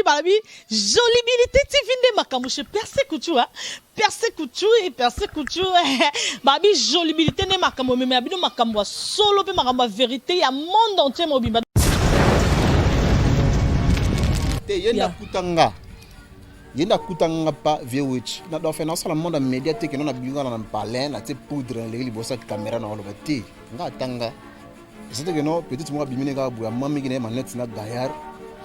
babi jolibilité tv nde makambo chez perse couture perse couture et perse couture babi jolibilité nde makambo meme ya bino makambo ya solo mpe makambo ya verité ya monde entier mobimba te ye ndakuta nga yende akutanga nga pa vieux witch na dofe nasala monde ya media te keno na bingana na mpalin na tie poudre na leki liboso ya kamera na oloba te nga atanga eza te keno petite moko abimi ne kaka boye amamiki na ye manete na gayard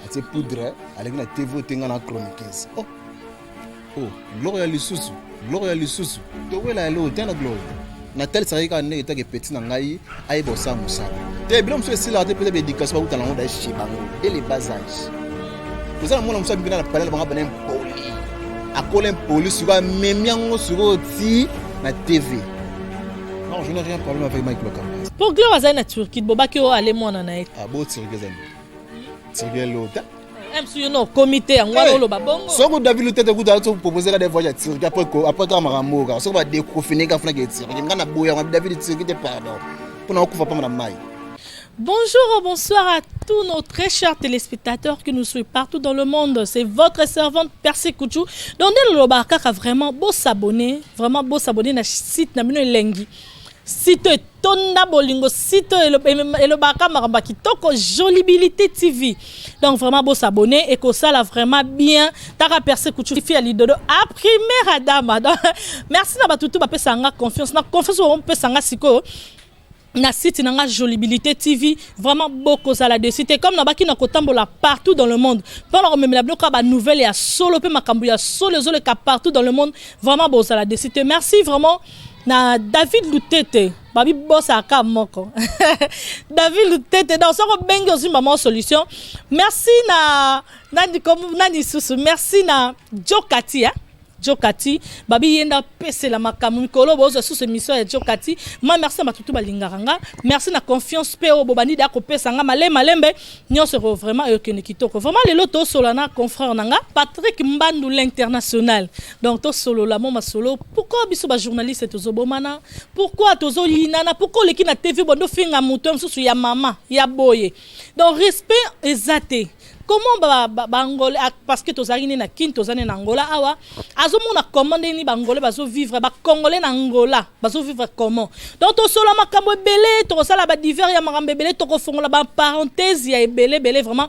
atie poudre aleki na tv ote nga na chroniqueuse oh oh biloko ya lisusu Gloria lisusu towela ya lelo tana Gloria natalisaka ye kaka ndenge etake peti na ngai ayeba osala mosala te bino mosusu esilaka te peut-être baéducation bakuta nango daye chez bango dès le bas âge oza na mwana mosusu abikina na palala banga bana impoli akola impoli sikoyo amemi yango sikoyo ti na tv non je n'ai rien problème avec mike lokamba mpo gloire azali na turquie bobaki o ale mwana na ye ah, bo turquie ezali turquie lota soko david lutete kutu azo propose ka devoir ya tirki après kaka makambo oyo kaka soko badecrofine ka funaki etirki nga na boya yango david tirki te pardon mpona okufa mpamba na mai Bonjour, bonsoir à tous nos très chers téléspectateurs qui nous suivent partout dans le monde. C'est votre servante Percy Kouchou. Donc, nous avons vraiment beau s'abonner, vraiment beau s'abonner à site Namino Lengi. site etonda bolingo site elobaka makambo ya kitoko jolibilité tv donc vraiment bosabone ekosala vraiment bien taka perse kuchufi ya lidodo a primaire adama donc merci na bato tu bapesaka nga confiance na confiance bapesaka nga sikoyo na site na nga jolibilité tv vraiment bokozala dessus te comme nabaki na kotambola partout dans le monde mpo na komemela biloko ya banouvelle ya solo mpe makambo ya solo ezoleka partout dans le monde vraiment bozala dessus te merci vraiment na david lutete babibosaka ka moko david lutete donc soki obengi ozwi mama solution merci na nani kom- nani susu merci na jokati eh? jokati babi ye nde apesela makambo mikolo bozwa susu émission ya jokati ma merci na bato tu balingaka nga merci na confiance mpe oyo bobandi deya kopesa nga male malembe nyonso eko vraiment ekende kitoko vraiment lelo tosola na confrère na nga patrick mbandu l'international donc tosolola mwa masolo pourkoi biso bajournaliste tozobomana pourkoi tozoyinana pourkoi oleki na tv bondo finga moto ya mosusu ya mama ya boye donc respect eza te comment baangolais ba, ba parce que tozalaki nde na kin toza nde na angola awa azomona comment nde nini baangolais bazovivre bacongolais na angola bazovivre comment donc tosola makambo ebele tokosala badivers ya makambo ebele tokofongola baparenthèse ya ebele ebele vraiment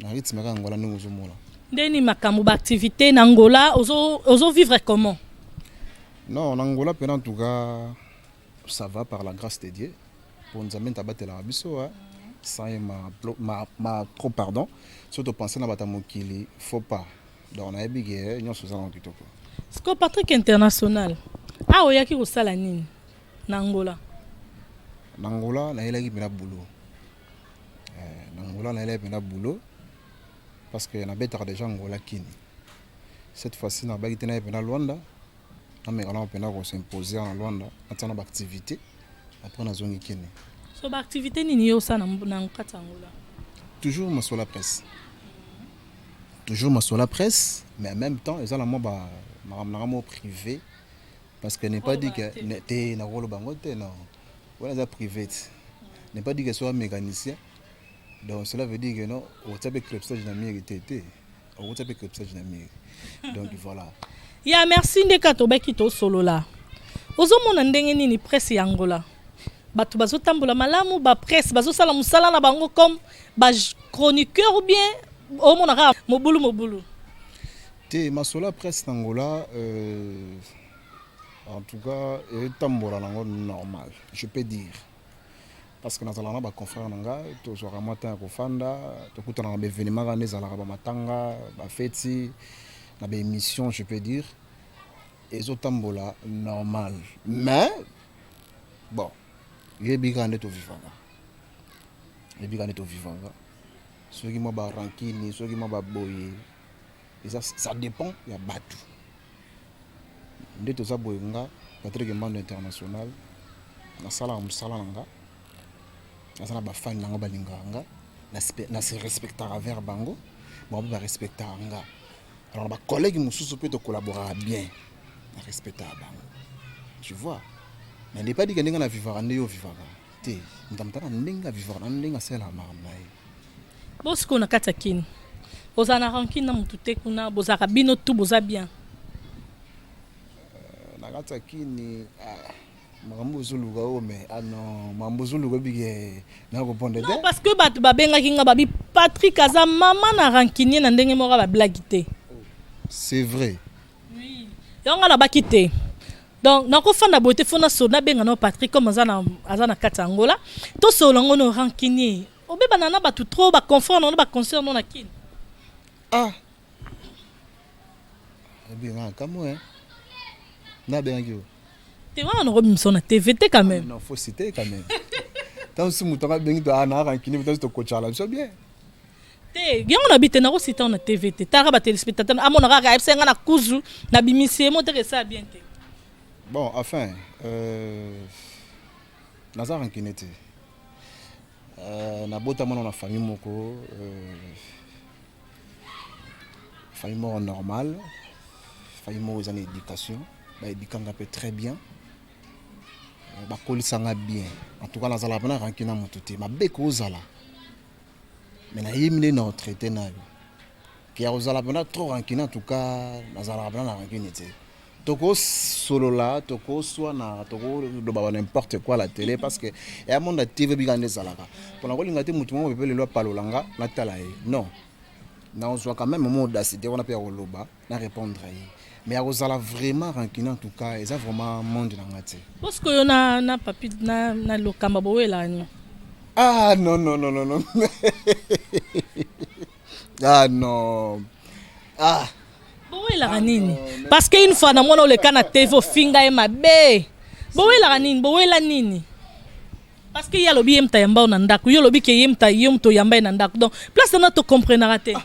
Na rythme kaka Angola ndenge ozomona. Nde nini makambo ba activité na Angola ozo ozo vivre comment? Non, na Angola pena en tout cas ça va par la grâce de Dieu. Po Nzambe nta batelaka biso hein. Sans ye ma ma ma trop pardon. Soki to penser na bata mokili faut pas. Donc nayebi ke nyonso eza na kitoko. Siko Patrick International. Ah oyaki kosala nini na Angola? Na Angola nayelaki pena boulot. Eh, na Angola nayelaki mpenza boulot parce que nabetaka déjà Angola kini cette fois-ci nabaki te naye mpenza Luanda nameka nao mpenza kosimposer na Luanda natia na baactivité après nazongi kini so baactivité nini yo osala na kati ya Angola toujours masola presse toujours masola presse mais en même temps eza na mwa ba makambo na ngai moko privé parce que n'est pas dit que te nakoloba yango te non wana eza private n'est pas dit que soit mécanicien donc cela veut dire que non okotia mpe crepsage na miri te te okotia mpe crepsage na miri donc voilà ya merci nde kaka tobaki tosolola ozomona ndenge nini presse ya angola bato bazotambola malamu bapresse bazosala mosala na bango comme bachroniqueur ou bien omonaka mobulu mobulu te masolo ya presse na angola euh... En tout cas, etambola nango normal, je peux dire. Parce que nazala na ba confrères na nga, tozwaka mwa temps ya kofanda, tokutana na ba événements kaka nde ezalaka ba matanga, ba feti, na ba émissions, je peux dire. Ezotambola normal. Mais bon, yebi kaka nde tovivaka. Yebi kaka nde tovivaka. Soki mwa ba rancune, soki mwa ba boye, eza ça dépend ya batu. nde toza boye nga Patrick Mbando international nasalaka mosala na nga naza na bafani na nga balingaka nga na se respectaka vers bango bango mpe barespectaka nga alors bacollègue mosusu mpe tokolaboraka bien na respectaka bango tu vois mais nde epa dika ndenge na vivaka nde yo ovivaka te moto na ndenge avivaka na ndenge asalelaka makambo na ye bo sikoyo na kati ya kini ozala na rancune na motu te kuna bozalaka bino tu boza bien euh, na kati ya kini ah, makambo ozoluka oyo me ano ah makambo ozoluka bike nakoponde te parce que bato babengaki nga babi patrik aza mama na rancunier na ndenge moko bablagi te oh, c'est vrai yango na baki te donc nakofanda boye te fo nasolo nabenga nao patrick comme aza na, aza na kati ya angola tosolola yango no rancunier obebana na bato trop baconfort nango na baconcert no na kini ah obima kamwe eh. nabengaki yo te wana nakobimisa na tv te quand même ah, non faut citer quand même ntango si moto anga abengi to aa ah, na rancunier ntango tokocala biso bien te yango na bite nako sita na TV te tala ba téléspectateurs amona kaka ayebisa nga na kuzu na bimisi ye moteka esala bien te bon enfin euh, naza rancune te euh, nabota mwana na famille moko euh, famille moko normale famille moko eza na éducation baedikanga mpe très bien euh, bakolisanga bien en tout cas nazalaka mpena rancune na motu te mabe kozala mais nayebi nde na retraite nayo ke ya kozala mpena trop rancune en tout cas nazalaka mpena na rancune te tokosolola tokoswana tokoloba ba n'importe quoi la tele parce que ya monde ya tv bika nde ezalaka mpona kolinga te motu moko pepe lelo apalola nga natala ye non nazwaka meme mo audacité wana mpe ya koloba na répondre ye mais akozala vraiment rancune en tout cas eza vraiment monde na nga te parce que yo na na papi na na lokamba bowelani ah non non non non non ah non ah bowelaka ah, nini parce que une fois na mwana oleka na tv ofinga ye mabe bowelaka nini bowela nini parce que ye alobi ye moto ayamba yo na ndako yo olobi ke ye moto ye moto oyamba ye na ndako donc place wana tocomprenaka te ah.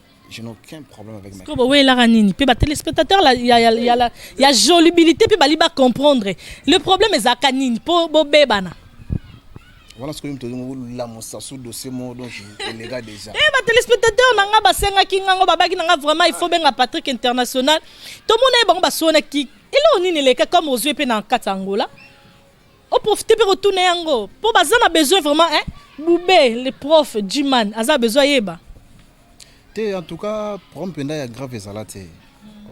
je n'ai aucun problème avec ma Kobo la ranini pe ba téléspectateurs la ya ya ya ya jolibilité pe bali ba comprendre le problème est à nini po bo bebana voilà ce que mtu ngo la mosasu dossier mo donc les gars déjà eh ba téléspectateurs nanga ba senga kinga ngo babaki nanga vraiment il faut benga Patrick international to mona bango ba sona ki elo nini leka comme aux yeux pe na kata Angola o profiter pe ko tuna yango po baza na besoin vraiment hein Boubé le prof Jiman aza besoin yeba te en tout cas problème penda ya grave ezala te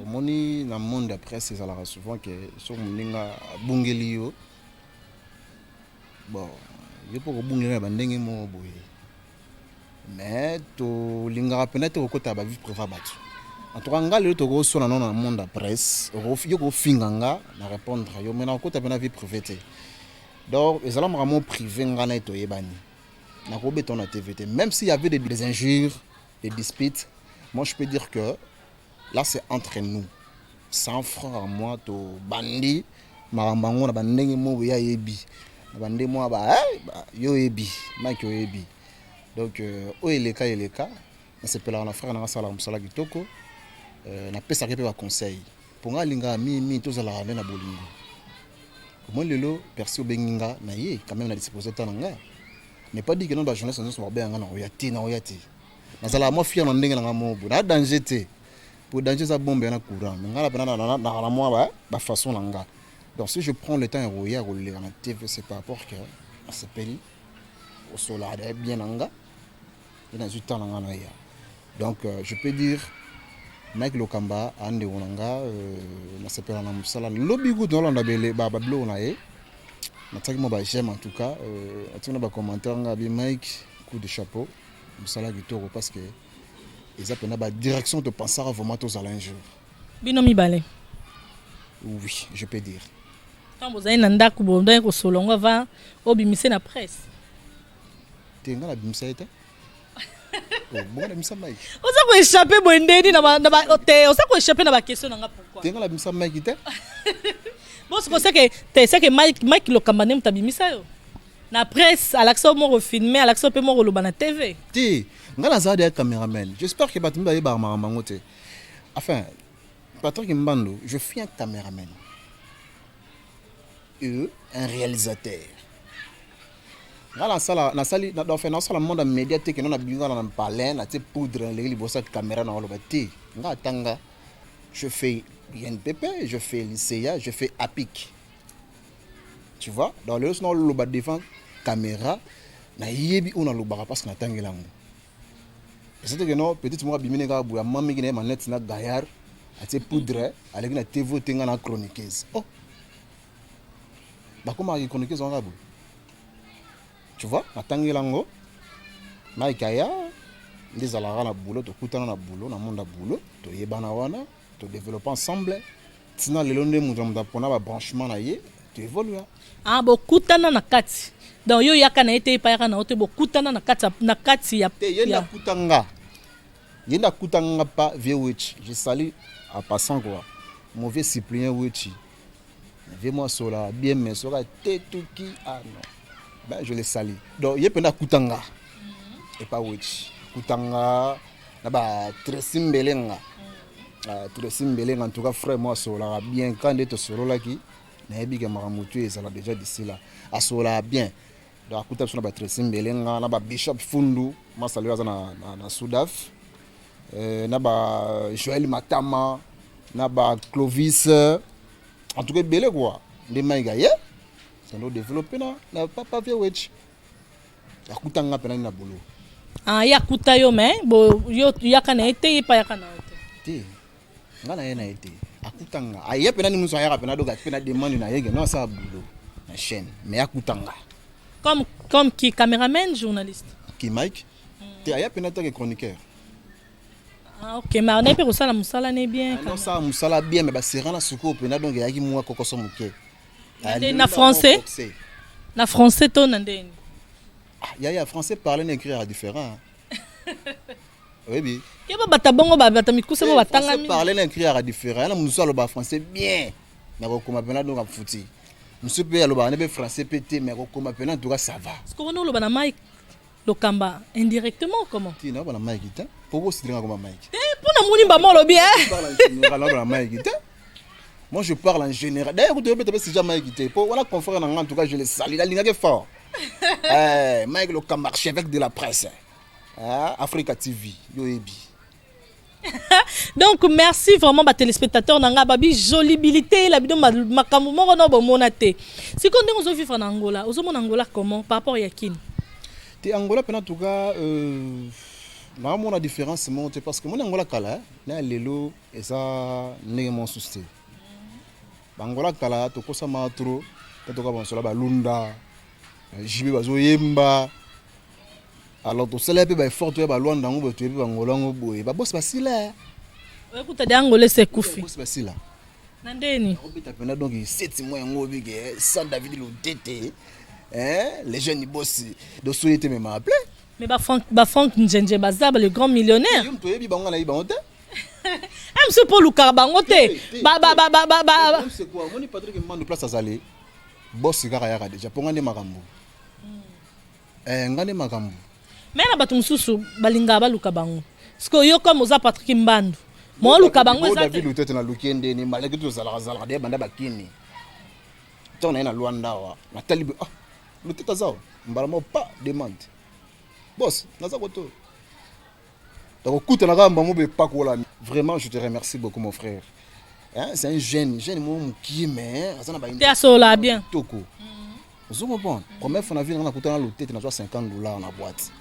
omoni na monde ya presse ezalaka souvent ke so moninga abungeli yo bon yo mpo kobungela na bandenge moko boye mais tolingaka mpena te kokota ba vie privée bato antuka nga lelo tokoswana nono na monde ya presse yo kofinga nga na répondre yo mai nakokota mpena vie privée te donc ezala makambo privé nga na ye toyebani nakobeta na tv te même s'il y avait des, des injures des disputes moi je peux dire que Là c'est entre nous sans frère à moi to bandi makambo yango na bandenge mobo ya yebi na bande mwa ba eh, ba- yo oyebi mike oyebi donc euh, oyo eleka eleka nasepelaka na frère nanga asalaka mosala kitoko euh, napesaka ye mpe baconseil mpo ngai alingaka mingi mingi tozalaka nde na bolingo omoi lelo persi obengi nga na ye quand même na disposition ta na nga n'est pas dit que non bajournaliste nyonso bakobenga nga na oya te na oya te nazalaka mwa fier na ndenge na ngai moko boye na danger te po danger eza bombe yana courant me ngai napena naka na mwa bafaçon na ngai donc si je prends le temps ya koya koleka na tv c'est par rapport que nasepeli kosolaka daye bien na ngai mpe nazwi temps na ngai na ya donc euh, je peux dire mike lokamba andeko na nga euh, nasepela na mosala lobi kutu nalanda babiloko na ye natiaki mwa ba j'aime en tout cas euh, atiki na bacommentaire nga abi mike coup de chapeau Musala kitoko parce que eza pena ba direction to pensaka vraiment tozala un jour. Bino mibale. Oui, je peux dire. Tant bozali na ndako bondaki kosolo ngo va obimise na presse. Te nga na bimisa ye te. Oh, bongo na bimisa mike. Oza ko échapper boye ndeni na ba na ba oh, te oza ko échapper na ba question na nga pourquoi? Te nga na bimisa mike te. Bon, c'est que te c'est que Mike Mike Lokamba nde moto abimisa yo. na presse alakisa yo moko filme alakisa yo mpe moko oloba na tv te ngai naza deya cameraman j'espère que bato mpe bayebaka makambo yango te enfin patrick mbando je suis un cameraman e un réalisateur nga nasala nasali enfin nasala monde ya média te keno nabingana na palin natie poudre naleki liboso ya caméra na oloba te nga atanga je fais inpp je fais lycea je fais apic tu vois donc lelo sona oloba devant caméra nayebi oyo nalobaka parce que natangeli yango eza te keno petite moko abimi ne kaka boye amamiki na ye manete na gayard atie poudre aleki na tv oyo te ngai na chroniqueuse oh bakomaka kichroniqueuse wana kaka boye tu vois natangeli yango mike aya nde ezalaka na boulot tokutana na boulot na monde ya boulot toyebana wana To developper ensemble. Tina lelo nde moto na moto apona ba branchement na ye, to evolua. Ah, bokutana na kati. Donc yo yaka na ye te, epa yaka na yo te, bokutana na kati na kati ya Te yenda kuta nga. Yenda kuta nga pa vieux Wetchi. Je salue en passant quoi. Mon vieux suppléant Wetchi. Vieux moi sola bien mais soka tetuki ah non. Ben je le sali. Donc ye penda kutanga. Et pas witch. Kutanga na ba Tracy Mbelenga. Uh, ah, Tracy Mbelenga en tout cas frère moi sola bien quand est sololaki nayebi ke makambo tu ezala déjà d'ici là. Asola bien. Donc akuta biso na ba Tracy Mbelenga na ba Bishop Fundu masalo aza na, na, na Sudaf eh, na ba Joël Matama na ba Clovis en tout cas ebele quoi nde Mike aye sando développer na, na Papa Vieux Wetch akuta nga mpe nani na bolo ah, ye akuta yo me bo, yo yaka na ye te ye mpe ayaka na yo te te nga na ye na ye te akuta nga aye mpe nani mosu ayaka mpe nadoka mpe na demande na yeke no asala bulo na chaîne mais akuta nga comme comme qui cameraman journaliste ki mike hmm. te aya mpe natake chroniqueur Ah, ok mais anaye mpe kosala mosala ne bien ah, osala mosala bien mais basera na sukoyo mpenza donc eyaki mwa kokoso moke na français na français to na ndeni ah, yaya français parle na écrire ya différent oyebi ye babata bongo babata mikuse bo eh, batangami parle na écrit yaka différent yana mosusu aloba français bien na kokoma mpena donc afuti mosusu mpe alobaka nde mpe français mpe te mais kokoma mpena ntuka ça va siko wana oloba na mike lokamba indirectement comment ti nakoba na mike te mpo kosilinga koma mike te mpo na moni mbama olobi nakoba na mike te moi je parle en général d'ailleurs kutu yobeta mpe sija mike te mpo wana confrère na nga en tout cas je le sali nalingaki fort eh, mike lokamba archevêque de la presse Ah, Africa TV, yo ebi. donc merci vraiment ba téléspectateurs na nga babi jolibilité la bino makambo moko na bomona te sikoyo ndenge ozo vivre na angola ozomona angola comment par rapport ya kin te angola mpena tout cas euh, naamona différence moko te parce que moni angola kala na ya lelo eza ndenge mosusu te bangola kala tokosama trop tatoka bansola balunda jibe bazoyemba alors tosala mpe baeffort toya balwanda yango boye toyebi bangola yango boye babosi basila ekuta de angola esi ekufi bosi basila na ndeni obeta mpena donc seti mwa yango obike eh, sans david lodete eh, les jeunes bosi dosoye te mema aple mais bafrank njenje baza le grand millionnaire yo moto oyebi bango nayebi bango te mso mpo olukaka bango te omoni patrik mando place azali bosi kaka yaka deja mpo nga nde makambo Eh, nga nde makambo. Mais na bato mosusu balingaka baluka bango. Sikoyo yo comme oza Patrick Mbandu, mo oluka bango eza David Lutete na luki ende ni malaki to zalaka zalaka de banda bakini. Tant na na Luanda wa, na talibi ah, Lutete zao, mbaramo pas demande. Boss, naza koto. nakokutana kaka mbamo bepakolami vraiment je te remercie beaucoup mon frère hein, c'est un jeune jeune moko mokie mais aza na te asolola bien toko ozo comprendre première fois na vie nanga nakutana lotete nazwa 50 dollars na boîte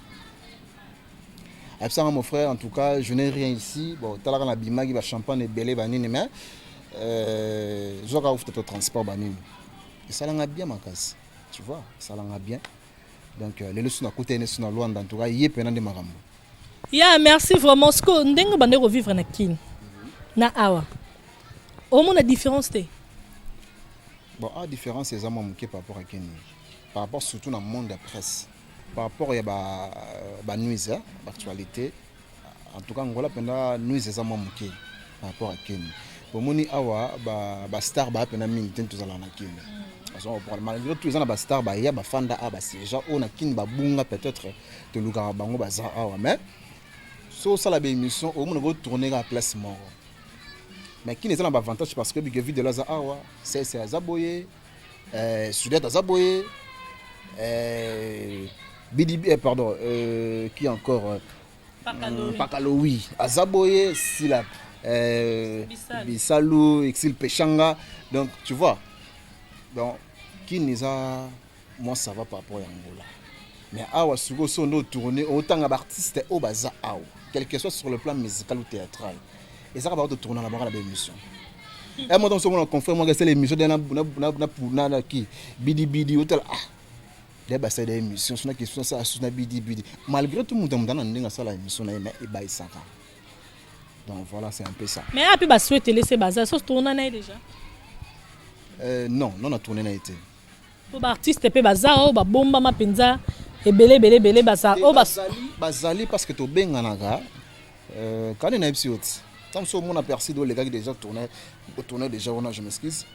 ayebisanga mon frère en tout cas je n'ai rien ici bon talaka na bimaki bachampagne ebele banini mais euh, zwaka ofuta to transport banini esalanga bien makasi tu vois esalanga bien donc euh, lelo so nakutani so na lwanda ntuka ye mpena nde makambo ya merci vraiment siko ndenge bande kovivre na kin na awa omona différence te bon a ah, différence eza mwa moke par rapport ya kini par rapport surtout na monde ya presse par rapport ya banuise ba euh, baactualité ba En tout cas, Angola penda nuise eza mwa moke par rapport à Kenya. Bomoni awa ba, ba star ba penda mingi te tozala na Kenya. Parce qu'on parle malgré tout eza na ba star ba ya ba fanda a ba siège oyo na Kin ba bunga peut-être tolukaka bango baza awa mais so osala ba émission omona ko tourner ka place moko. Mais Kin eza na ba avantage parce que Bigevide aza awa, CS aza boye, eh, sudette aza boye eh, bidibi eh, pardon euh, qui encore euh, pakalowi hmm, aza boye sila euh, bisalu exil peshanga donc tu vois donc kini eza mwa ça va par rapport ya ngola mais awa sikoyo so nde otourne otanga baartiste oyo baza awa quelque soit sur le plan musical ou théâtral eza kaka bato tournaka baka na ba émission un mois ntango na confrère mwaka esala émission de na na ki bidibidi otala ah de basala émission sona question asala susu na bidibidi malgré tout moto motana na ndenge asala émission na ye mais ebayisaka donc voilà c'est un peu ça mais ape basuetele se baza so tourna na ye déjà euh, non non na tourne na ye te po ba artiste pe baza oyo ba bombama penza ebele ebele ebele baza oyo bazali bazali parce que tobenganaka euh, kani na yebisi yo ti ntango mosusu omona perside olekaki déjà tourne tourne déjà wana je m'excuse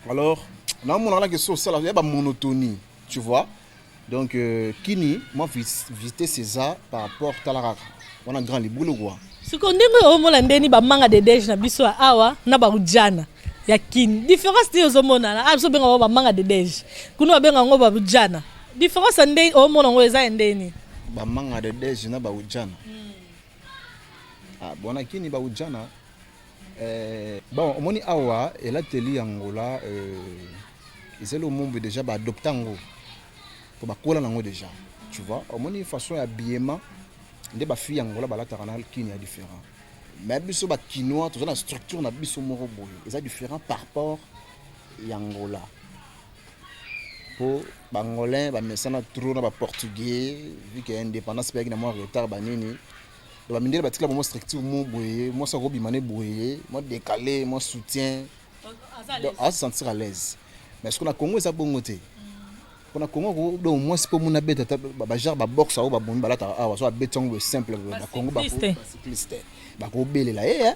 alors naomonaka nake so osala ya bamonotonie tu vois Donc euh, kini mwa vitesse eza par rapport tala kaka wana grand libulu kwa siko ndenge oyo omona ndeni bamanga de dege na biso ya awa na barujana ya kini différence nini ozomonana a ah, biso obenga yango bamanga de dege kuna babenga yango barujana différence ya ndeni omona yango eza ya ndeni bamanga de dege na barujana hmm. ah, bona kini barujana Eh, bon omoni awa elateli ya ngola eh, ezali omombe deja baadopta yango mpo bakola nango deja tu vois omoni façon ya biema nde bafille ya ngola balataka na kini ya différent mais biso bakinois toza na structure na biso moko boye eza différent par rapport ya ngola mpo bangolais bamesana trop na baportugais vike indépendance mpe yaki na mwa retard banini ba mindele batikala bango structure mo boye mwasi akobima ne boye mwa décalé mwa soutien donc aza sentir à l'aise mais soki na congo eza bongo te mpo na congo ko donc mwasi mpo muna abeta ata bajare baboxe yango babomi balataka awa so abeti yango boye simple na congo bacycliste bakobelela ye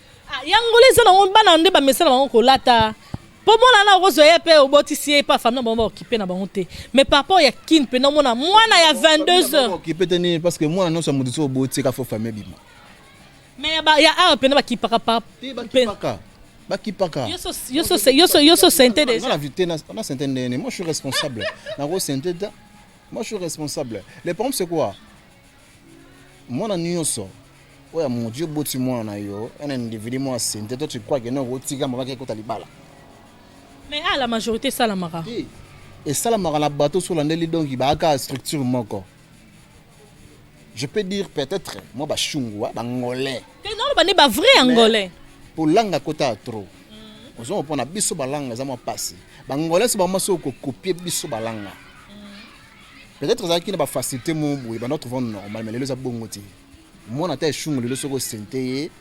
Ah, ya ngola eza nango bana nde bamesana bango kolata mpo mwana na okozwa ye mpe obotisi ye mpe afami na bango baokipe na bango te mais par rapport ya kin mpe namona mwana ya 22 heures okipe te nini parce que mwana nyonso ya moto so oboti eka fo fami ebima mais ya ba- ya awa mpena bakipaka pa te bakipaka bakipaka yoso sente deja na vite na na sente ndenge nini moi je suis responsable nako sente te moi je suis responsable le problème c'est quoi Mwana nioso oyo amongo ti oboti mwana na yo un individu mwa sente toi tu crois que non otika mama ke kota libala mais ah la majorité esalamaka ti esalamaka na bato so olandeli donc baaka structure moko je peux dire peut-être mwa bashungwa bangolais te naloba nde bavrai angolais polanga kota trop mm. ozo mopona biso balanga eza mwa mpasi bangolais so bango maso kokopie biso balanga Peut-être ezalaki na ba facilité mo boye banda trouvant normal mais lelo eza bongo te. Mwana ata eshungu lelo soko sente ye.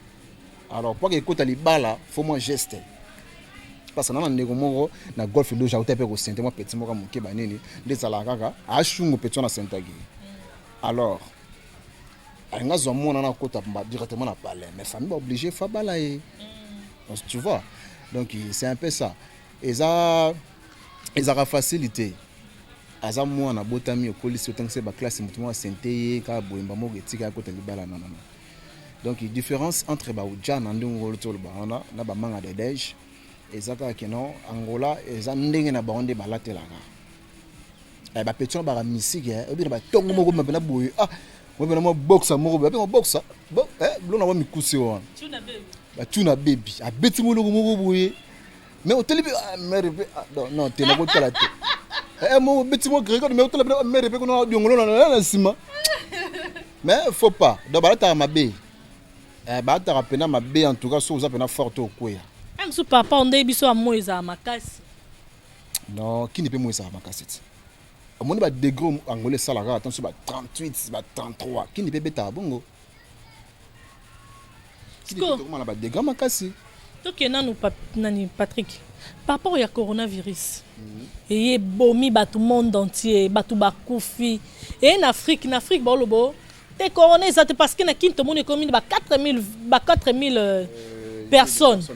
Alors pwaka ekota libala faut moi geste. Parce que na ndeko moko na golf loge auta pe ko sente moi petit moko moke ba nini nde zala kaka ashungu petit na sentaki. Alors alinga zwa mwana na kota directement na palais mais famille ba obligé fa bala ye. Mm. Tu vois? Donc c'est un peu ça. eza ezaka facile te aza mwana abotami okolisi otangisi ye baklasse moto moko asente ye kaka boyemba moko etika akota libala nanana donc différence entre bauja na ndenge ngolo toloba wana na bamanga de dege eza kaka keno angola eza ndenge na bango nde balatelaka eh, bapeti wana baka misike eh, obi na batongo moko mapena boye ah mapena mwa boxa moko boye apema boxa eh, bilona mwa mikuse wana batuna bebi abeti moloko moko boye mais oteli mpe ah, mere mpe ah, non te nakotala te eh, eh, mobeti mo gregode mais otala mpe ah, mere mpe kuna diongolo na nsima mais faut pas donc balataka mabe eh, balataka mpena mabe en tout cas soki oza mpena fort to okweya mosu papa ondei biso ya moi ezala makasi non kini mpe moi ezala makasi ti omoni badegre angola esalaka ata mosusu ba 38 ba 33 kini mpe ebetaka bongo tokomana badega makasi tokee nanu pa, nani patrick par rapport ya coronavirus mm -hmm. eye ebomi bato monde entier bato bakufi eye na afrique na afrique baolobo te corona eza te parce que na kini tomoni ekomi ba 4000 ba 4000 euh, personnes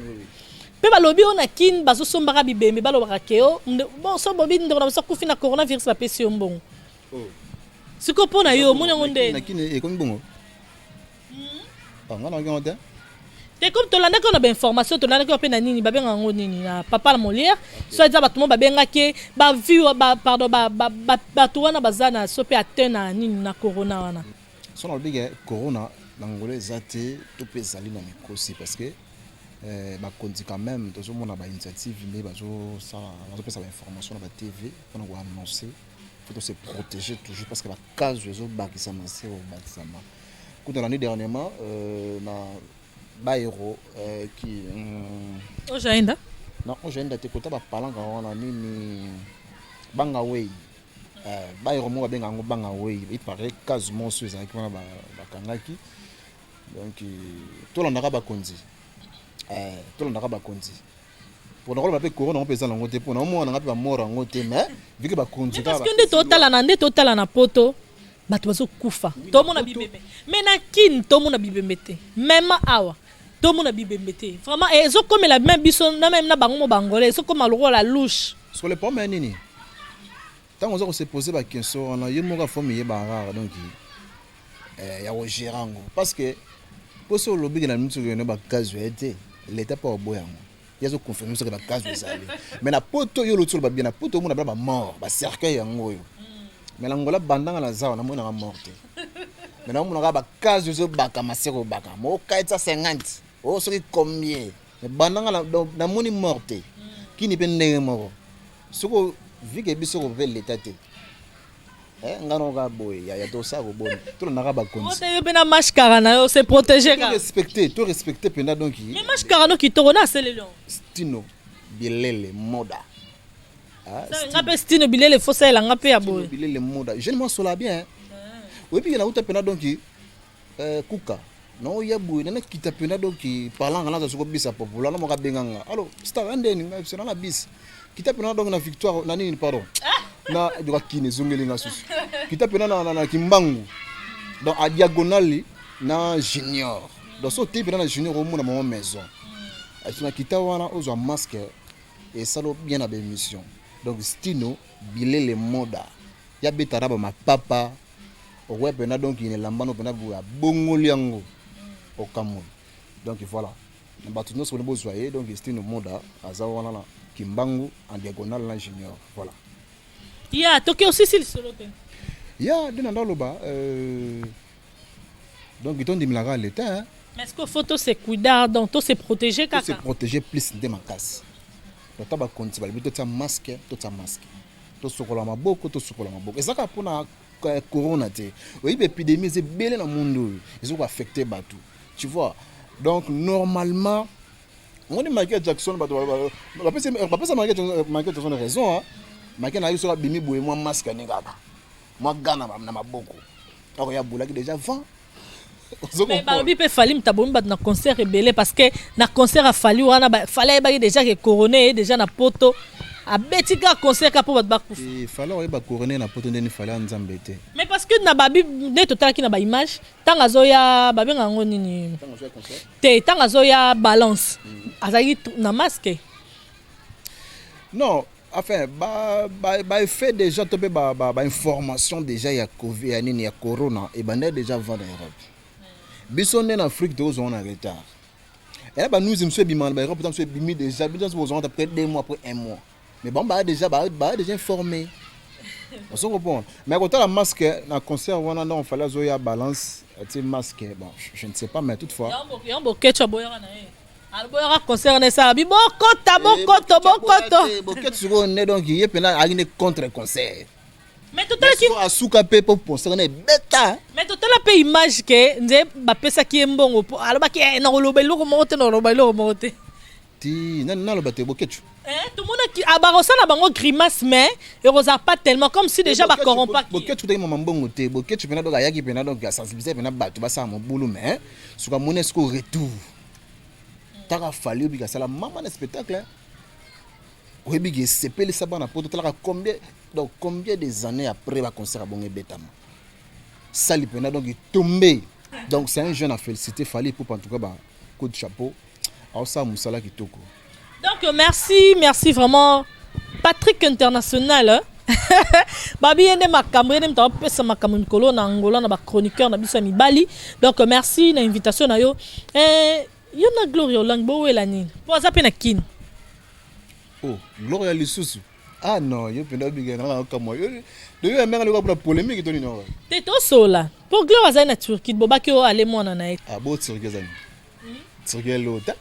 mpe balobi oyo na kini bazosombaka bibembe balobaka keo oh, so bobi ndeko na biso akufi na coronavirus bapesi yo mbongo siko mpo na yo omoni yango nde nakini ekomi bongo nga nayoki yango te te comme tolandaki na bainformation tolandaki mpe na nini babenga yango nini na papa la molière soit eza bato mo babengaki bavie pardon bato wana baza na so mpe ateint na nini na corona wana so nalobi ke corona na ngolo eza te to mpe ezali na mikosi parce que eh, bakonzi quand même tozomona bainitiative nde bazopesa bainformation na batv mpona koannonce faut to se protéger toujours parce que ba cas ezo bakisa ma sœur bakisa ma kuta na ni dernièrement euh, na ba héros euh, qui euh, ojaenda na ojaenda te kota ba palanga wana nini banga wei euh, ba héros mo babenga yango banga wei il paraît cas monso ezalaki wana bakangaki donc euh, tolandaka bakonzi euh, tolandaka bakonzi pona koloba mpe corona yango mpe eza nango te mpo naomona nanga mpe bamoro yango te mais vike bakonzi parceke nde totalana nde totala na poto bato bazokufa tomona bibembe me na kine tomona bibembe te mema awa tomona bibembe te vraiment eh, ezokomela meme biso na meme na bango mo bangolais ezokoma lokola louche sikoyo lepome ya nini Tango oza ko se poser ba questions wana yo moko faut miyeba kaka donc eh, ya ko gérer yango parce que po so olobi ke na miso ke na ba gaz ya te l'etat pa oboya yango ye azo confirme biso ke ba gaz ezali mais na poto yo oloti oloba bien na poto omona bana ba mort ba cercueil yango oyo mais na ngola bandanga na zawa na mona ka mort te mais na mona ka ba gaz ozo baka maseko baka mo kaitsa 50 o soki combien mais bandanga na moni mort te kini pe ndenge moko Soko vu que biso ko pe l'etat te. Eh, nga no ka boye ya ya to sa ko boni. To na ka ba konzi. Mote yo pe na mashkara na yo se protéger ka. To respecter, to respecter penda donc. Mais mashkara no kitoko na selelon. Stino bilele moda. Ah, nga pe stino bilele fosa elanga pe ya boye. Bilele moda. Je ne m'en sola bien. Oui, puis il y en a où tu peux donc Eh, kuka na oya boye na nakita mpenza donki palanga naza soko bisa popola na moka benga nga alo star ya ndeni nga biso na bisi kita mpenza na donki na victoire na nini pardon na joka kine ezongeli nga susu kita mpenza na, na, na kimbangu donc a diagonale na junior donc so oteyi mpenza na junior omona mama maison na kita wana ozwa masque esalo bien na baémission donc stino bilele moda ya beta na bamapapa okoya mpena donc ina elamba no mpena boye abongoli yango okamwe donc voilà na bato nyonso boni bozwa ye donc estine moda aza wana na kimbangu en diagonale na junior voilà ya toke osisi lisolo te ya nde na ndaloba euh, donc tondimelaka leta mais ce que faut tose cuidar donc tose protéger kaka tose protéger plus nde makasi ata bakonzi balobi totya masque totya masque tosokola maboko tosokola maboko eza kaka mpona eh, corona te oyebi epidémie eza ebele na monde oyo eza koaffecte bato tu vois donc normalement omoni michael jackson bato bapesa michael jackson raison michael nayebi soki abimi boye mwa maske ani kaka mwa gana na maboko akoya bolaki déjà vent mais balobi mpe fali moto abomi bato na concert ebele parce que na concert ya fali wana fali ayebaki déjà ke corone eye déjà na poto abeti kaka concert kaka mpo bato bakufa eh, fali oyeba corone na poto ndeni fali ya nzambe te mais parce que na babi nde totalaki na baimage ntango azoya babenga yango nini te ntango azoya balance mhm. azalaki na masque non enfin ba ba ba effet déjà to pe ba ba, ba information déjà ya covid ya nini ya corona et banda déjà vent na Europe biso nde na Afrique to zo na retard et ba nous monsieur bima ba Europe tant bimi déjà biso zo zo après deux mois après un mois mais bon ba déjà ba ba déjà informé on se comprend mais quand la masque na concert wana non fallait zo ya balance tu masque bon je ne sais pas mais toutefois yambo yambo ketcha boyana na aboyaka concert na esala bi bokoto eh, bokoto bokoto boketo sikoyo nde donc ye mpena ayaki nde contre concert asuka mpe mpo concert na ebeta mais totala mpe image ke nde bapesaki ye mbongo mpo alobaki eh, nakoloba eloko moko te nakoloba eloko moko te ti nani naloba te bokecu eh, tomonaki ah, bakosala bango grimace mais ekozala pas tellement comme si déjà bacorrompaki bokecu totaki mama mbongo te bokecu mpena donc ayaki mpena donc asensibilize mpena bato basala mobulu mais suka moni esiko retour taka fali oyebi kasala mama na spectacle oyebi ke esepelisa bana poto talaka combien donc combien des années après ba concert ya bongo ebetama sali mpena donc etombe donc c'est un jeune à féliciter fali poupa en tout cas ba coup de chapeau aosala mosala kitoko Donc merci, merci vraiment Patrick International. Hein? babi ye nde makambo ye nde moto apesa makambo mikolo na angola na bachroniqueur na biso ya mibali donc merci na invitation na yo eh, yo na gloria olangi bowela nini mpo aza mpe na kin oh, gloria lisusu ah non yo mpenza obingana na okamwa yo doyo ya menge lokola polemique to nini oyo te tosola mpo gloria azali na turquie bobaki oyo ale mwana na ye ah bo turquie ezali hmm? turquie elota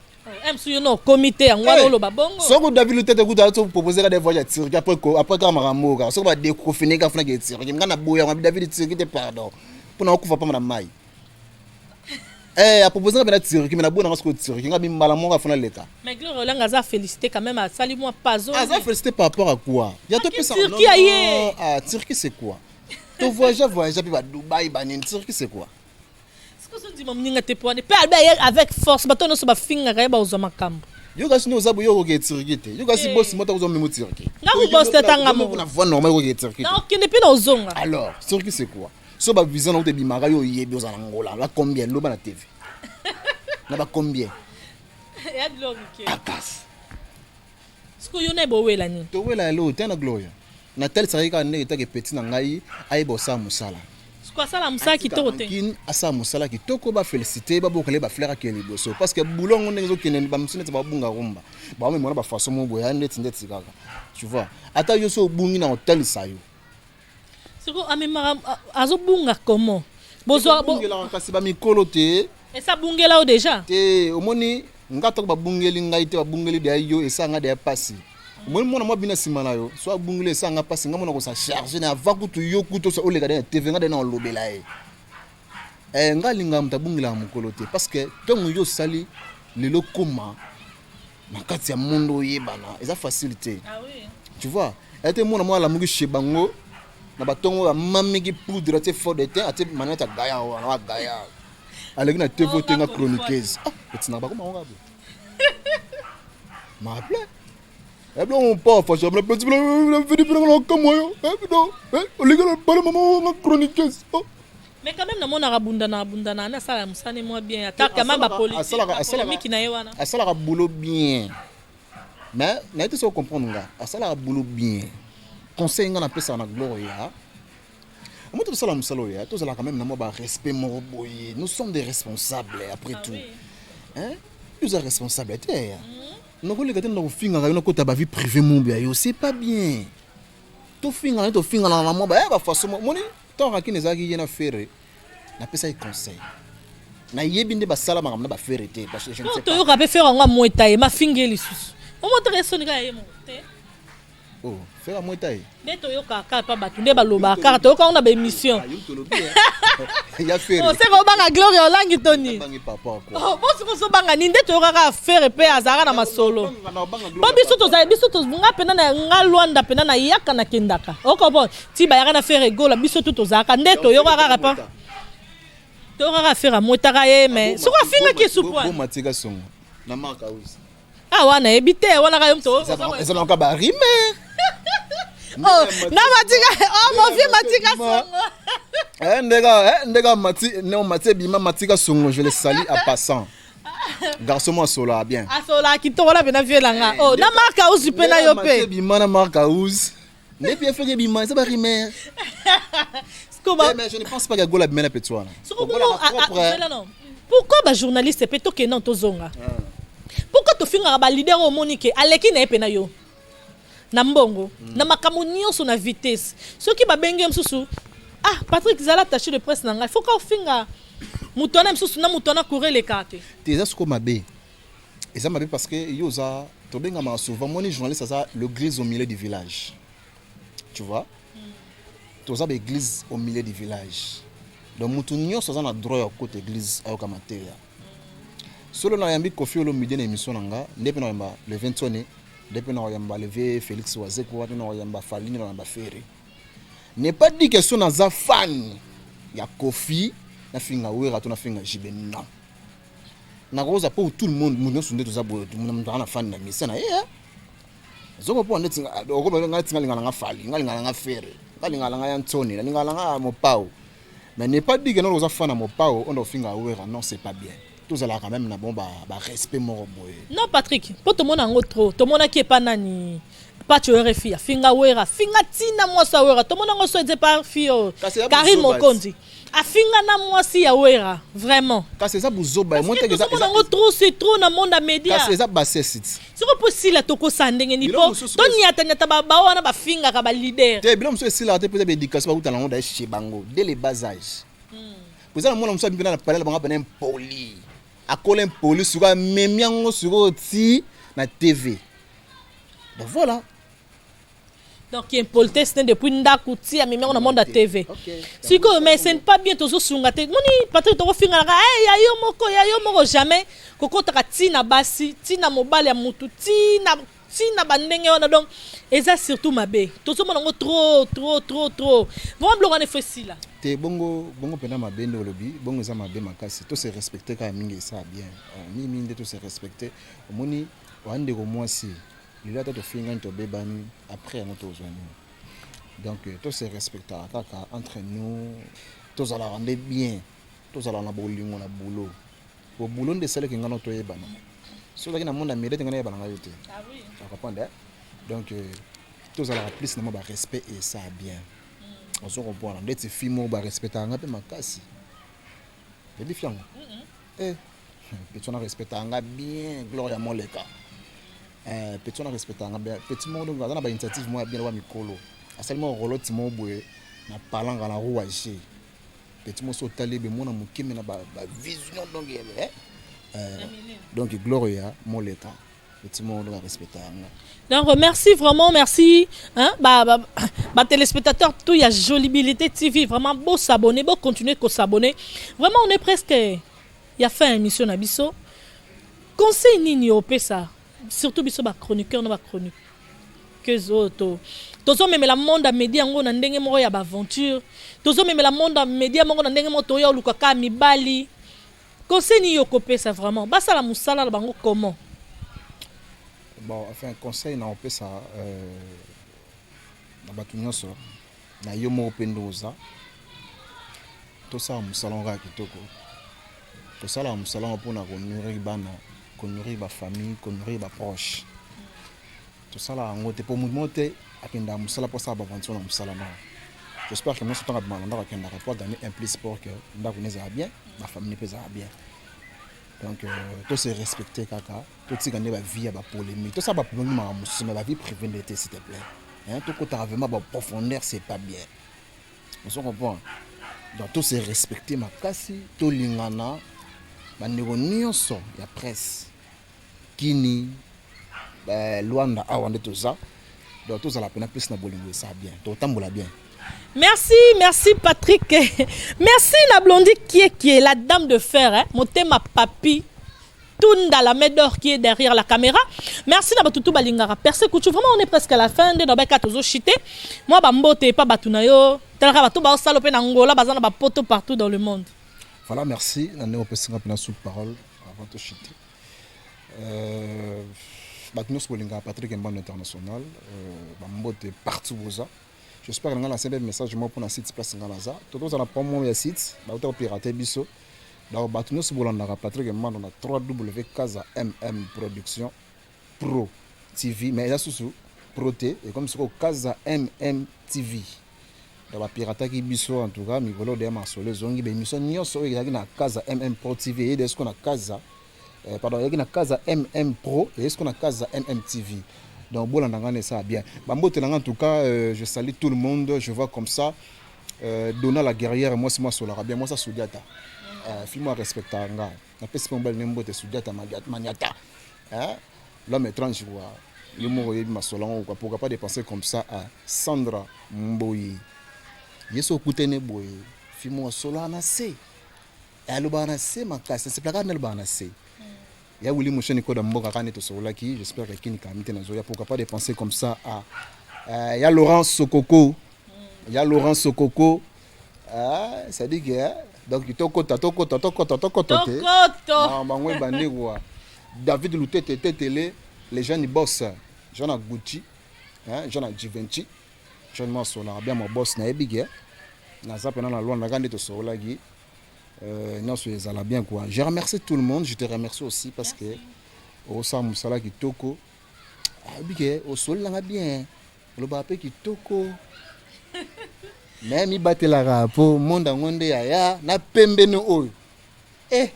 Msu yo no comité yango wana oloba bongo. Soko David Lutete kutu azo proposer ka des voyages ya Turquie après ko après ka makambo ka soko ba déconfiner ka funa ke Turquie ngana boya ngana David Turquie te pardon. Pona okufa pa na mai. Eh a proposer ka na Turquie mais na bona soko Turquie ngabi mbala moko afuna leta. Mais Gloria Olanga aza félicité quand même asali moi pazo. Aza félicité par rapport à quoi? Ya to pesa. Turquie aye. Ah Turquie c'est quoi? To voyager voyager puis ba Dubaï ba nini Turquie c'est quoi? Siko so ndima muninga te pwane. Pe albe aye avec force bato nyonso bafingaka ye bakozwa makambo. Yo kasi no oza boye okoki etiriki te. Yo kasi eh. boss moto akozwa memo tiriki. Nga ko boss te tanga mo. Na voix normale okoki etiriki. Na okende pe na ozonga. Alors, tiriki c'est quoi? So ba visa na otebimaka yo oyebi oza na ngola. La combien loba na TV. Na ba combien? Ya glory ke. Akas. Siko yo na bowela nini? Towela ya lota na Gloria. Natalisaka ye kaka ndenge etaka epeti na ngai ayeba kosala mosala. Siko asala mosala kitoko te. Kin asala mosala kitoko ba felicite ba bokale ba fleur ke liboso parce que boulot ngo ndenge ezokende ba musine te ba bunga rumba. Ba omemona ba façon mo boya ndeti ndeti kaka. Tu vois? Ata yo so obungi na otalisa yo. siko amemaka azobunga comment bozwa bongelaka kasi ba mikolo te esa bungela yo déjà te omoni nga atako babungeli ngai te babungeli deya yo esa nga deya pasi omoni mwana mwa bina nsima na yo so abungeli esa nga pasi nga mona kosa charge na ava kutu yo kutu osa oleka de na tv nga de na olobela ye eh, nga alingaka moto abungelaka mokolo te parce que ntongo yo osali lelo koma na kati ya monde oyebana eza facile te ah tu vois ete te mwana mwa alamuki chez bango na batongo oyo amamiki poudre atie fort de teint atie manete ya gaya wana wa gaya aleki na tv oh, otenga chroniqueuse ah, etinaka bakoma ngo kabe maple ebiloko mpo fasha bina peti bina vidi bina na kamwa yo eh, bino eh, oleki na bana mama wanga chroniqueuse oh. Mais quand même na monaka bundana abundana na sala musala ne mwa bien ata quand même ba polemique na ye wana asalaka boulot bien mais na yete so comprendre nga asalaka boulot bien conseil nga na pesa na gloria moi tosala mosala oyo ya tozalaka meme na mwa barespect moko boye nous sommes des responsables après ah tout hein oza responsable te ya nakoleka te nakofingaka yo nakota bavie privé mobi ya yo c'est pas bien tofingana tofingana na mwa bafaçon moni Tant Rakin ezalaki ye na Ferre, napesaki conseil. Nayebi nde basala makambo na ba Ferre te parce que je ne sais pas. Toyoka pe Ferre yango amweta ye, mafingi ye lisusu. Omotaka ye soni kaka ye moko te. Oh, Ferre amweta ye. Nde toyoka kaka pa bato nde balobaka kaka toyoka yango na ba émission. Ya Ferre. Oseka obanga Gloria Olangi to nini? Bangi papa quoi. Oh, bosi kozobanga nini nde toyoka kaka Ferre pe azalaka na masolo. Banga na banga Po Gloria. biso tozali biso to nga pena na nga Luanda pena na yaka na kendaka. Okopon. ti bayaka na Ferre Gola biso tout tozalaka nde toyokaka kapa toyokaka Ferre amwetaka ye mais soki afingaki supu matika songo na marka usi ah wana yebi te wana kayo mto ezalaka ba rime oh na matika oh mon vieux matika songo eh ndeka eh ndeka mati non mati bima matika songo je le salue à passant garçon mo asolaka bien asolaka kitoko na mpena vieux na nga o na mark house mpe na yo mpe bima na mark house nde pia feke bima eza barimer eh, mais je ne pense pas que gola bimela peti wana pourquoi bajournaliste mpe tokenda tozonga ah. pourquoi tofingaka balider oyo omoni ke aleki na ye mpe na yo na mbongo mm. na makambo nyonso na vitesse soki babenge mosusu ah patrick zala tache de presse na ngai foka ofinga moto wana mosusu na moto wana coureleka te te eza soko mabe eza mabe parce que yo oza tobengamaka souvent moni journaliste aza l'église au milieu du village tu vois toza baeglise au milieu du village donc motu nyonso aza na droit ya kokota église ayoka mateya solo nayambi kofi olomide na émission na nga nde mpe nakoyamba le 21 nde mpe nakoyamba leve félix wazeko wana nakoyamba falini nakoyamba fere n'est pas dit que so naza fan ya kofi nafinga wera to nafinga jibe non nakoza po tout le monde mutu nyonso nde toza boye mutu anga na fani na misa na ye eh. zoko po nde okoba ngai tinga lingana nga fali ngai lingana nga fere ngai lingana nga ya nsoni na lingana nga mopao mais n'est pas dit que nalokoza fana mopao onda ofinga awera non c'est pas bien tozalaka quand même na bon ba, ba respect moko boye non patrick po tomona yango trop tomonaki epa nani Pacho yo refi afinga wera finga tina mwasi ya wera tomona ngo soje par fio Karine Mokonzi afinga na mwasi ya wera vraiment kasi eza buzoba ya mwete eza eza ngo trop c'est trop na monde ya media kasi eza bassesse ti soko po sila to kosa ndenge ni po to nyata nyata ba ba wana ba finga ka ba leader te bilo muso sila te peut-être éducation ba kutana ngo da chez bango dès le bas âge hmm. poza na mwana muso bi na palais bango bana impoli akola impoli suka memi yango suko ti na TV Donc voilà. Donc qui impolitesse n'est depuis ndaku ti amemi on monde à TV. Si ko mais c'est pas bien tozo sunga te. Moni Patrick toko finga la eh ya yo moko ya yo moko jamais koko taka ti na basi ti na mobali ya mutu ti na ti na bandenge wana donc eza surtout mabe. Tozo mona ngo trop trop trop trop. Vraiment bloka ne fesi là. te bongo bongo mpena mabe nde olobi bongo eza mabe makasi to se respecte kaka mingi esa bien mingi mingi nde to se respecte omoni Wa ndeko mwasi, lelo ata tofingani tobebani, après yango tozwa nini? Donc euh, to se respectaka kaka entre nous, tozalaka nde bien, tozalaka na bolingo na boulot. Bo boulot nde esalaki ngai na toyebana. Soki ozalaki na monde ya mirete ngai nayebana ngai yo te. Ah oui. Tu comprends? Eh? Donc euh, tozalaka plus na mwa ba respect et ça bien. Mm. Ozo comprendre? Ndeti fille moko ba respectaka ngai mpe makasi. Yebi fille yango? Mm -mm. Eh, petit na respecta nga bien Gloria Moleka. Eh, petit na respecta nga bien. Petit moko donc aza na ba initiative moya bien wa mikolo. Asali mo rolo timo boye na palanga na rua je. Petit mo so tali be mona mukeme na ba, ba vision donc eh. eh donc Gloria Moleka. petit moko nde barespecta yango donc merci vraiment merci hein, ba, ba, ba téléspectateurs tout ya jolibilité tv vraiment beau s'abonner beau continuer ko s'abonner vraiment on est presque ya fin émission na biso conseil nini opesa surtout biso ba chroniqueur na ba chroniqueuse oyo to tozomemela monde ya media yango na ndenge moko ya baaventure tozomemela monde ya media moko na ndenge moko toya oluka kaka mibali Conseil nini okopesa vraiment basala musala na bango comment? Bon, enfin conseil na opesa euh, na bato nyonso na yo moko mpe nde oza tosala mosala yango kaka kitoko tosalaka mosala yango mpona konourrir bana konourrir bafamille konourrir baproche Tosala yango te po mutu moko te akendaka musala po asala ba aventure na musala na J'espère que nionso ntango abima na ndako akendaka po agagner un plus pour que ndako ne ezala bien ba famille mpe ezala bien donc euh, to se respecter kaka totika nde ba vie ya ba polémique tosala ba polémique makambo mosusu mais ba vie privée nde te s'il te plaît hein tokotaka vraiment ba profondeur c'est pas bien ozo comprendre donc to se respecter makasi tolingana bandeko nyonso ya presse kini ba luanda awa nde toza donc tozala pena plus na bolingo esa bien tokotambola bien Merci, merci Patrick. Merci la blondie qui est, qui est la dame de fer, hein? Motema Papi. Tunda la Médor qui est derrière la caméra. Merci na batutu balingara. Perse Kouchou, vraiment on est presque à la fin de Nobeka Tozo Chité. Moi bambote et pas batunayo. Talaka batu ba salope na Angola, bazana ba poto partout dans le monde. Voilà, merci. Nane opesanga pena sous parole. avant to chute euh, bato nyonso bolingaka patrik mbano international euh, bambote partout boza j'espère ngai nasenbe message moko mpona site place ngai naza tokozala promo ya site bauta kopirate biso donc bato nyonso bolandaka patrik mbano na 3 w kaza mm production Pro TV mais eza susu pro te ekomi soko kaza mm TV donc bapirataki biso en tout cas mikolo de masolo ezongi bemission nyonso oyo ezalaki na kaza mm pro TV eyede soko na kaza eh, pardon ezalaki na kaza mm pro eyede soko na kaza mm TV donc bolanda ngai na esala bien bambote na ngai en tout cas euh, je salue tout le monde je vois comme ça euh, dona la guerrière mwasi mwasolaka bien mwasi asudi ata euh, fimo arespectaka ngai napesi mpe mobali ne mbote sujata maniata hein? l'homme étrange quoi yo moko oyebi masolo yango quoi pourquoi pas de penser comme ça à sandra mboyi ye so okutani boye fi moko asolaka na se alobaka na se makasi nasepelaka kaka nalobaka na se ya wili mosheni koda mboka kaka nde tosololaki j'espère que kini kami te nazoya pourquoi pas de penser comme ça à euh, ya laurent sokoko ya laurent sokoko Ah, ça dit que hein? donc tokota tokota tokota tokota te na bango ebandi kwa david lutete tetele les gens ni boss jean na gucci hein jean na givenchy jean ma sola bien mon boss na ebige hein? naza pena na lwanda kande tosololaki euh, nyonso ezala bien quoi je remercie tout le monde je te remercie aussi parce que osala mosala kitoko ayebi ke osololanga bien olobaka mpe kitoko naye mibatelaka mpo monde yango nde yaya na pembeni oyo eh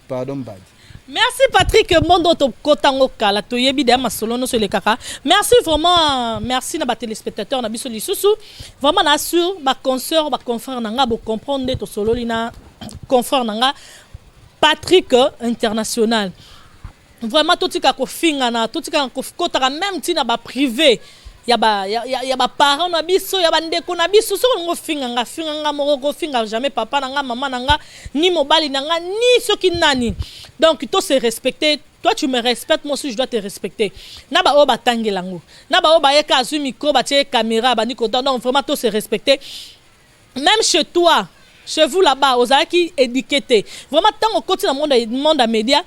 pardon mbadi merci patrick monde oyo tokota yango kala toyebi deya masolo nyonso elekaka merci vraiment merci na batelespectateur na biso lisusu vraiment na sur baconseur baconfrère na ngai bocomprendre nde tosololi na confrère na ngai patrick international vraiment totika kofingana totika kokotaka meme nti na baprive ya baparent na biso ya bandeko na biso soki olingi ofinga nga finga nga moko kofinga jamais papa na nga mama na nga ni mobali na nga ni soki nani donc to se respecter toi tu me respectes moi aussi je dois te respecter na baoyo batangela yango na baoyo bayeka azwi micro batie caméra abandi kotan donc vraiment to se respecter même chez toi chez vous là-bas ozalaki éduqué te vraiment ntango okoti na monde ya média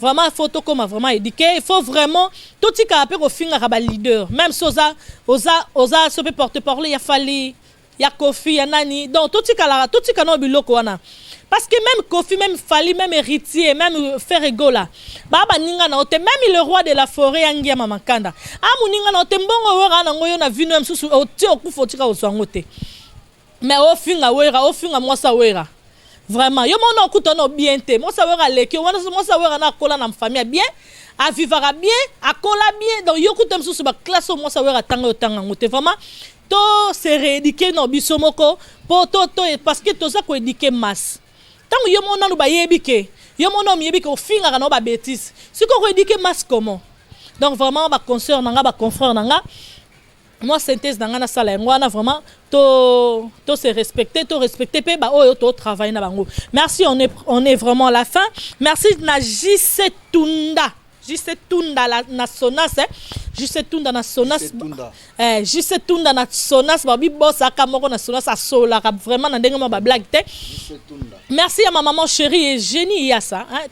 Vraiment faut tokoma vraiment éduqué, il faut vraiment totika pe kofingaka ba leader. Même si oza oza oza sope porte parole ya Fally, ya Kofi, ya nani. Donc totika la totika no biloko wana. Parce que même Kofi, même Fally, même Héritier, même euh, Ferre Gola, ba ba ninga na ote, même le roi de la forêt ya ngia mama kanda. Ah muninga na ote mbongo wera na ngoyo na vino msusu otie okufa otika oswango te. Mais o finga wera, o finga mwasa wera. Vraiment, yo mona okuta no bien te. Mwasa wera leki, wana mwasa wera na kola na famille bien, a vivaka bien, a kola bien. Donc yo kuta misusu ba classe o mwasa wera tanga yo tanga ngote. Vraiment, to se rééduquer no biso moko po to to parce que toza ko éduquer masse. Tango yo mona no bayebi ke, yo mona omiyebi ke ofingaka na ba bêtises. Siko ko éduquer masse comment? Donc vraiment ba consoeurs na nga, ba confrères na nga, mwa synthèse na ngai nasala yango wana vraiment to, to se respecter to respecter mpe baoyo to travaille na bango merci on est, on est vraiment la fin merci na jc tunda jc tunda la, na sonas eh. jc tunda na sonas eh, jc tunda na sonas babibosaka moko na sonas asololaka vraiment na ndenge mwa bablague te merci ya ma maman chérie et génie yasa hein.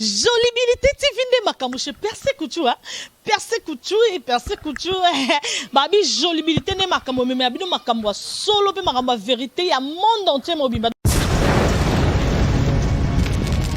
Jolibilité TV nde makambo chez Perse Couture hein? Perse Couture et Perse Couture babi jolibilité nde makambo meme ya bino makambo ya solo mpe makambo ya verité ya monde entier mobimba